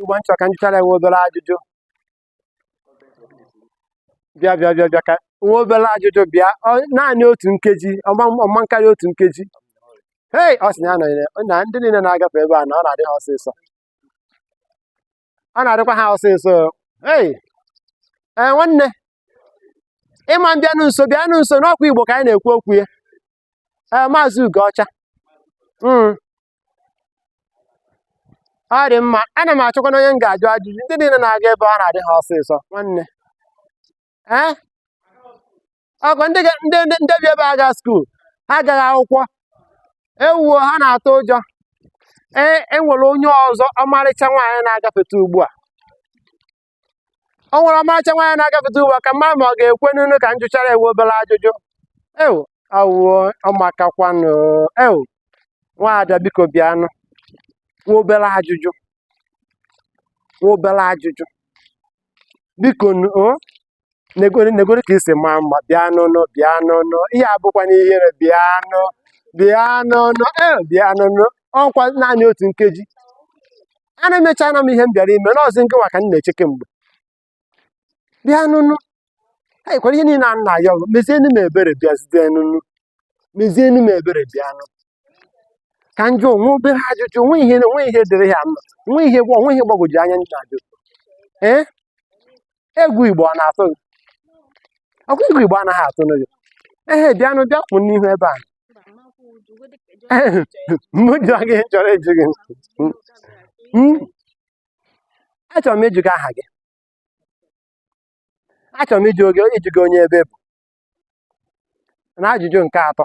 ugbo nchọ ka m jụchara nwa obere ajụjụ bịa bịa bịa bịa ka nwa obere ajụjụ bịa naanị otu nkeji ọ ma-akarị otu nkeji hei ọ sị na ya nọnyere na ndị niile na-agafe ebe a na ọ na-adị ha ọsịsọ ọ na-adịkwa ha ọsịsọ hei ee nwanne ị ma-abịanụ nso bịanụ nso na ọkwa igbo ka anyị na-ekwu okwu ya ee maazị Ugoọcha mm. ọ dị mma ana m achọkwanụ onye m ga-ajụ ajụjụ ndị niile na-aga ebe ọ na-adị ha ọsịsọ nwanne ee ọkwa ndị ga- ndị ndị ndị bi ebe a aga skuul ha agaghị akwụkwọ ewuo ha na-atụ ụjọ ee e nwere onye ọzọ ọmarịcha nwaanyị na-agafeta ugbu a o nwere ọmarịcha nwaanyị na-agafeta ugbu a ka m ma ma ọ ga-ekwenụnụ ka m jụchara ya nwa obere ajụjụ ewu awụo ọ makakwanụ ewu nwaada biko bịanụ nwa obere ajụjụ nwa obere ajụjụ bikonu o negoro negoro ka i si maa mma bịanụnụ bịanụnụ ihe a abụkwana ihere bịanụ bịanụnụ ee bịanụnụ ọkwa naanị otu nkeji a na emechaana m ihe m bịara ime na ọ zị nke nwa ka m na-eche kemgbe bịanụnụ anyị kwara ihe niile a m na-ayọ gị mezienu m ebere bịazitenụnụ mezienu m ebere bịanụ ka m jụọ nwa obere ajụjụ o nwe ihe o nwe ihe dịrị ya mma o nwe ihe gwa o nwe ihe gbagwoju anya ndị na-ajụ ee egwu igbo ọ na-atụ gị ọkwa egwu igbo anaghị atụ gị ehe bịanụ bịa kwụ n'ihu ebe a m jụọ gị chọrọ ịjụ gị Mm. achọrọ m ịjụ gị aha gị achọrọ m ịjụ gị ịjụ gị onye ebe ị bụ na ajụjụ nke atọ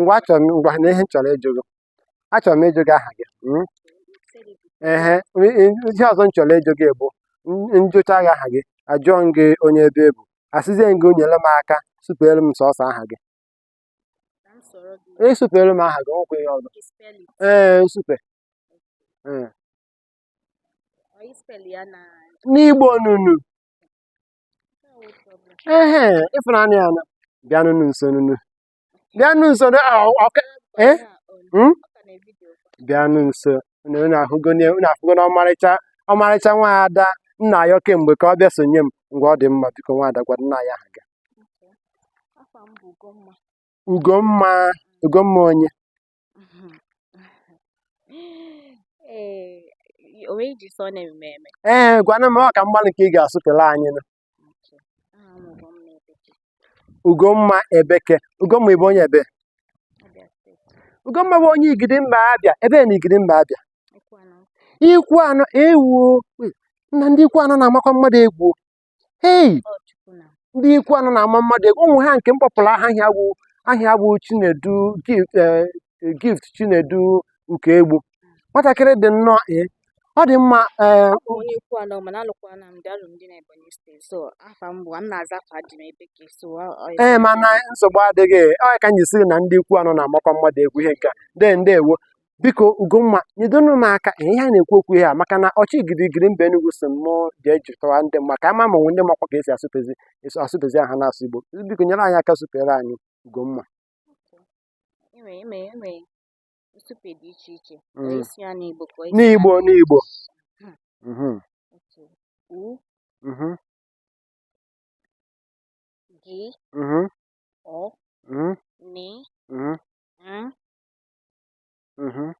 ngwa achọrọ m ngwa na ihe m chọrọ ịjụ gị achọrọ m ịjụ gị aha gị mm? ehe i- i- ihe ọzọ m chọrọ ịjụ gị bụ m- m jụchaa gị aha gị ajụọ m gị onye ebe ị bụ asịzie m gị nyere m aka sụpeere m sọsọ aha gị ị sụpeere m aha gị nwekwa ihe ọzọ ee nsupe ee. n'igbo nụnụ ehe ịfụnanya ya na bịanụnụ nso nụ bịanụ nso nụ ah, ọ- ọka eh? Hmm? bịanụ nso unu unu ahụgo na unu afụgo na ọmarịcha ọmarịcha nwa ada m na-ayọ kemgbe ka ọ bịa sonye m ngwa ọ dị mma biko nwa ada gwanụ anyị aha gị Ugomma Ugomma onye ee onweghị ji sọ na eme eme ee gwana m ọ ka mgbalị ka ị ga-asụpere anyị nụ aha m bụ ugomma ebeke ugomma ebeke ugomma ị bụ onye ebe abịa steeti ugomma bụ onye igidi mba abịa ebe na igidi mba abịa ikwu anọ ikwu anọ ewu nna ndị ikwu anọ na-amakwa mmadụ egwu hei Ọ Chukwu nna. ndị ikwu anọ na-ama mmadụ egwu ụmụ ha nke m kpọpụrụ aha aha ya bụ aha ya bụ chinedu gift eh, gift chinedu Ukaegbu nwatakịrị dị nnọọ ee ọ dị mma ee Abụ m onye ikwu anọ mana alụkwana m di alụ m di na Ebonyi steeti so afa m bụ m na-aza afa di m Ebeke so ọ ọ ya ee mana nsogbu adịghị ọ ya ka m ji sị na ndị ikwu anọ na-amakwa mmadụ egwu ihe nke a de ndewo biko Ugomma nyedonu m aka ihe anyị na-ekwu okwu ya maka na ọchị girigiri mba Enugu si mụ jee jụtara ndị mma ka ama ma onwe ndị makwa ka esi asụpezi esi asụpezi aha n'asụsụ Igbo biko nyere anyị aka supere anyị Ugomma nsupe dị iche iche mm. ị sị ya n'Igbo ka n'Igbo n'Igbo hmm. mm-hmm. u mm-hmm. gị mm-hmm. o nị Mhm.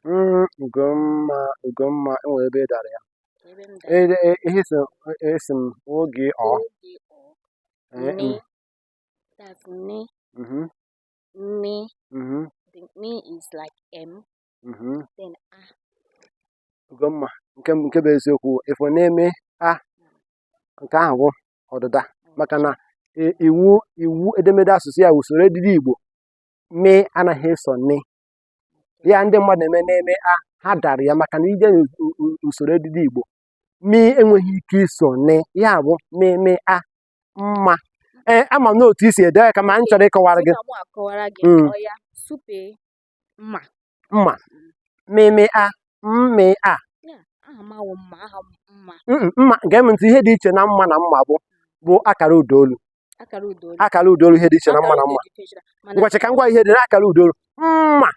Mm, Ugomma, Ugomma, e nwere ebe ị dara ya. Ebe m E- dara e- Ihe si esi m u gị o. u gị o Eh, ne mm, that's ne mhm, ne mhm, the me is like m mhm. then a Ugomma, nke m- nke bụ eziokwu ị fụ ne me a nke ahụ bụ ọdịda maka na i- iwu iwu edemede asụsụ ya usoro edide Igbo me anaghị eso ne ya ndị mmadụ eme ne me a ha dara ya maka na i jee n'usoro edide igbo me enweghị ike iso ne ya bụ me me a mma ee ama m n'otu e si ede ya kama m chọrọ ịkọwara gị Sị ka mụ akọwara gị Mm. ọya supe mma mma mị mị a mmị a mma gee m ntị ihe dị iche na mma na mma bụ bụ akara ụdaolu akara ụdaolu ihe dị iche na mma na mma ngwa chee ka m gwa ihe dị na akara ụdaolu mma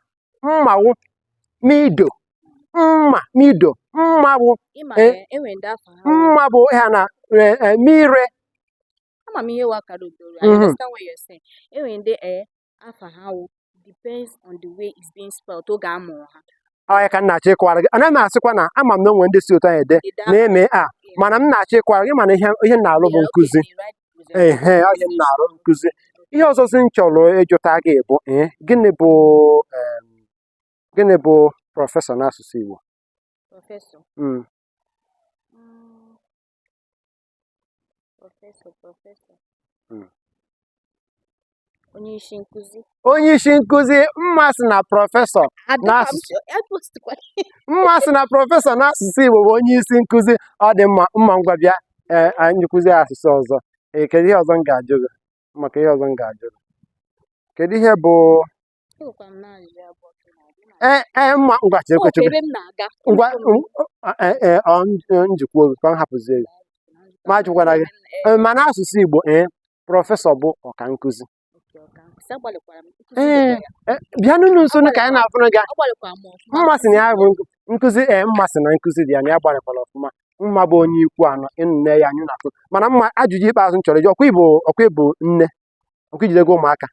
mma wụ mi do mma mi do mma bụ e, e mma bụ ha na e, mi re ama m ihe wụ akara ụdaolu I mhm. understand what you're saying enwere ndị ee afa ha wụ depends on the way it's being spelled oge a mụrụ ha ọya ka m na-achọ ịkọwara gị anaghị m asịkwa na ama m na onwe ndị si otu ahụ ede ne me a mana m na-achọ ịkọwara gị mana ihe m na-alụ bụ nkụzi ee ọ ihe m na-alụ nkụzi ihe ọzọzi m chọrọ ịjụta gị bụ ee eh, gịnị bụ gịnị bụ prọfesọ n'asụsụ Igbo hmm. Hmm. onye isi nkụzi onye isi nkụzi mma sị na prọfesọ n'asụsụ mma sị na prọfesọ n'asụsụ Igbo bụ onye isi nkụzi ọ dị mma mma ngwa bịa e, anyị nkụzi asụsụ ọzọ e, kedu ihe ọzọ m ga-ajụ gị maka ihe ọzọ m ga-ajụ gị kedu ihe bụ ee ee mma ngwa chere kwe chebe ngwa njikwa oge ka m hapụzie gị ma ajụkwara gị ma n'asụsụ Igbo ee prọfesọ bụ ọka nkụzi ee bịa nọrọ nso ka anyị na-afụrụ gị mma sị na ya bụ nkụzi ee mma sị na nkụzi dị ya na ya gbalịkwara ọfụma mma bụ onye Ikwuano nne ya anyị na-atụ mana mma ajụjụ ikpeazụ m chọrọ ịjụ ọkwa ị bụ ọkwa ị bụ nne ọkwa i jidego ụmụaka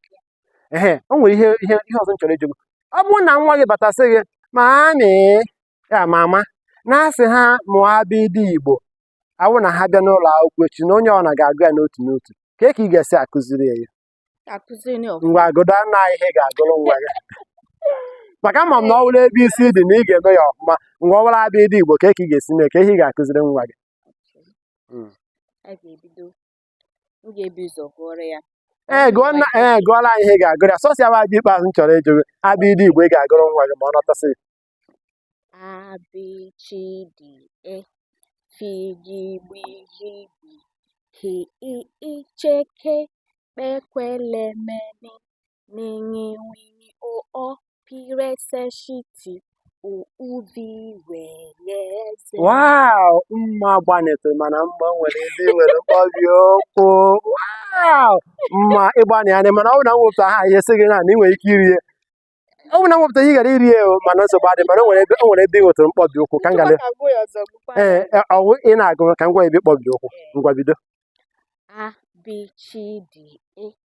ehe o nwere ihe ihe ihe ọzọ m chọrọ ịjụ gị ọ bụrụ na nwa gị bata sị gị mami ya mama na a sị ha mụọ abịdị igbo ọ wụrụ na ha bịa n'ụlọ akwụkwọ echi na onye ọ bụla ga-agụ ya n'otu n'otu kee ka ị ga-esi akụziri ya akụziri ya ọfụma ngwa agụda na ihe ị ga-agụrụ nwa gị maka ama m na ọ bụrụ ebe i si dị na ị ga-eme ya ọfụma ngwa ọ bụrụ abịdị igbo kee ka ị ga-esi mee kee ihe ị ga-akụziri nwa gị a ga-ebido m ga-ebu ụzọ gụọrọ ya ee eh, gụọ nna ee eh, gụọra anyị ihe ị ga-agụrụ ya sọsọ ya bụ ajụjụ ikpeazụ m chọrọ ịjụ gị abịdị igbo ị ga-agụrụ nwa gị ma ọ nọtasịa A B CH D E F G GB GH GW H I J K KP KW L M N Ṅ NW NY O Ọ P R S SH T U Ụ V W Y Z. Wow, mma gbanịtụrụ mana mma o nwere ebe i nwere mkpọbi ụkwụ. Wow, mma ị gbanịana mana ọ bụ na m wepụtara ihe sị gị na na ị nwere ike iri ya. Ọ bụ na m wepụta ihe ị gaara iri ya o, mana nsogbu adị mana o nwere ebe o nwere ebe ị nwetara mkpọbi ụkwụ ka m gara. Ka gụọ ya ọzọ gụkwa ya. Ee, e, ọ bụ ị na-agụ ka m gwa gị ebe ị kpọbi ụkwụ. Ngwa bido. A B CH D E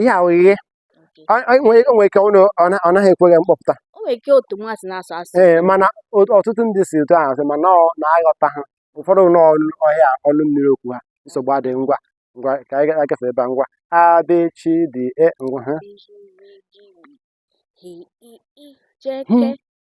ihe a o nwere ike ọ naghị ekwe gị mkpọpụta ee mana ọtụtụ ndị si otu ahụ asụ mana a na-aghọta ha ụfọdụ n'ọhịa ọnụ mmiri okwu ha nsogbu adịghị ngwa ngwa ka anyị agafe ebe a ngwa A B CH D E ngwa ha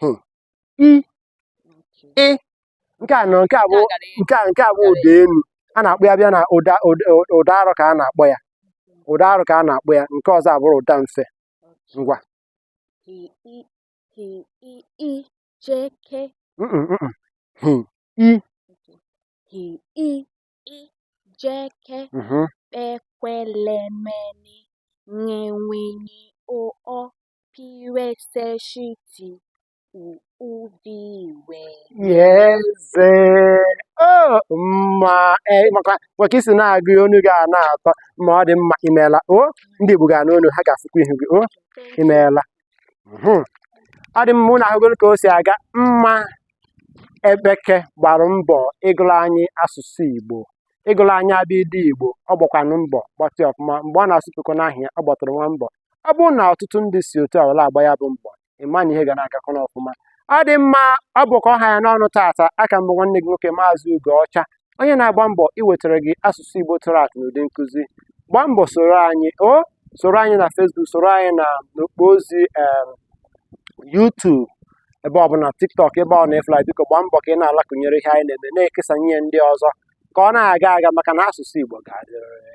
hmm. i ị nke a nọ nke a bụ nke a nke a bụ ụda elu a na-akpọ ya bịa na ụda ụda arụ ka a na-akpọ ya ụda arụ ka a na-akpọ ya nke ọzọ abụrụ ụda mfe ngwa Ị J K KP KW L M N Ṅ NW NY O Ọ piweseshiti udiwe eze mma e, maka i si na-agụ onu gị a na-atọ ma ọ dị mma imeela o ndị Igbo ga-anụ onu ha ga-afụkwa ihu gị o imeela mhm. ọ dị mma ụnụ ahụgoro ka o si aga mma ebeke gbara mbọ ịgụrụ anyị asụsụ Igbo ịgụrụ anyị abịdị Igbo ọ gbakwanụ mbọ gbatụ ọfụma mgbe ọ na-asụpụkọ n'ahịa ọ gbatụrụ nwa mbọ ọ bụrụ na ọtụtụ ndị si otu a were agba ya bụ mbọ ị ma na ihe ga na-agakọ n'ọfụma ọ dị mma ọ bụ ka ọ ha ya n'ọnụ taata aka m bụ nwanne gị nwoke Maazị Ugo Ọcha onye na-agba mbọ iwetara gị asụsụ Igbo tụrụ atụ n'ụdị nkụzi gbaa mbọ soro anyị o soro anyị na Facebook soro anyị na n'okpo ozi em, YouTube ebe ọbụla TikTok ebe ọ na-efla biko gbaa mbọ ka ị na-alaịkụnyere ihe anyị na-eme na-ekesa nye ndị ọzọ ka ọ na-aga aga maka na asụsụ Igbo ga-adịrịrị